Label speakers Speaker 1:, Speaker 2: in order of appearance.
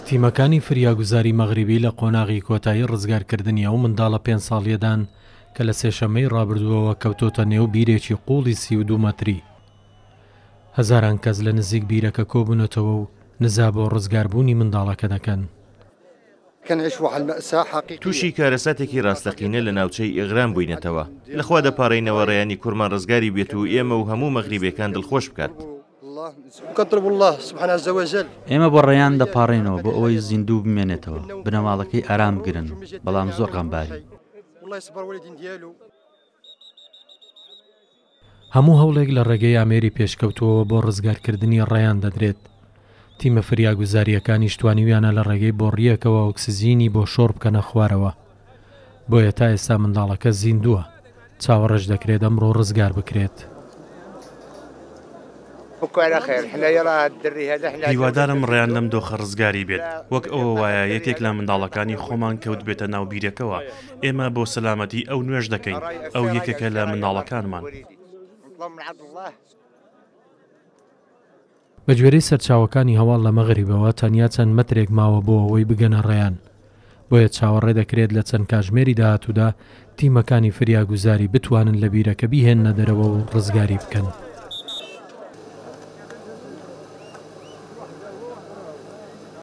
Speaker 1: تیمەکانی فریاگوزاری مەغریبی لە قۆناغی کۆتایی ڕزگارکردنی ئەو منداڵە پێنج ساڵیەدان کە لە سێشەممەی ڕابردووەوە کەوتۆتە نێو بیرێکی قوڵی سی و دوو مەتری. هەزاران کەس لە نزیک بیرەکە کۆبوونەتەوە و نزا بۆ ڕزگاربوونی منداڵەکە دەکەن.
Speaker 2: تووشی کارەساتێکی ڕاستەقینە لە ناوچەی ئێغران بووینەتەوە، لە خوا دەپاڕێینەوە ڕێیانی کورمان ڕزگاری بێت و ئێمە و هەموو مەغریبێکان دڵخۆش بکات.
Speaker 3: ئێمە بۆ ڕێیان دەپاڕێینەوە بۆ ئەوەی زیندوو بمێنێتەوە، بنەماڵەکەی ئارام بگرن، بەڵام زۆر غەمبارین.
Speaker 1: هەموو هەوڵێک لە ڕێگەی ئامێری پێشکەوتووەوە بۆ ڕزگارکردنی ڕەیان دەدرێت. تیمە فریاگوزارییەکانیش توانیویانە لە ڕێگەی بۆڕییەکەوە ئۆکسجینی بۆ شۆڕ بکەنە خوارەوە. بۆیە تا ئێستا منداڵەکە زیندووە، چاوەڕێش دەکرێت ئەمڕۆ ڕزگار بکرێت.
Speaker 4: هیوادارم ڕەیان لەم دۆخە ڕزگاری بێت وەک ئەوە وایە یەکێک لە منداڵەکانی خۆمان کەوت بێتە ناو بیرەکەوە ئێمە بۆ سەلامەتی ئەو نوێژ دەکەین ئەو یەکێکە لە منداڵەکانمان.
Speaker 1: بەگوێرەی سەرچاوەکانی هەواڵ لە مەغریبەوە تەنیا چەند مەترێک ماوە بۆ ئەوەی بگەنە ڕەیان بۆیە چاوەڕێ دەکرێت لە چەند کاژمێری داهاتوودا تیمەکانی فریاگوزاری بتوانن لە بیرەکە بیهێننە دەرەوە و ڕزگاری بکەن.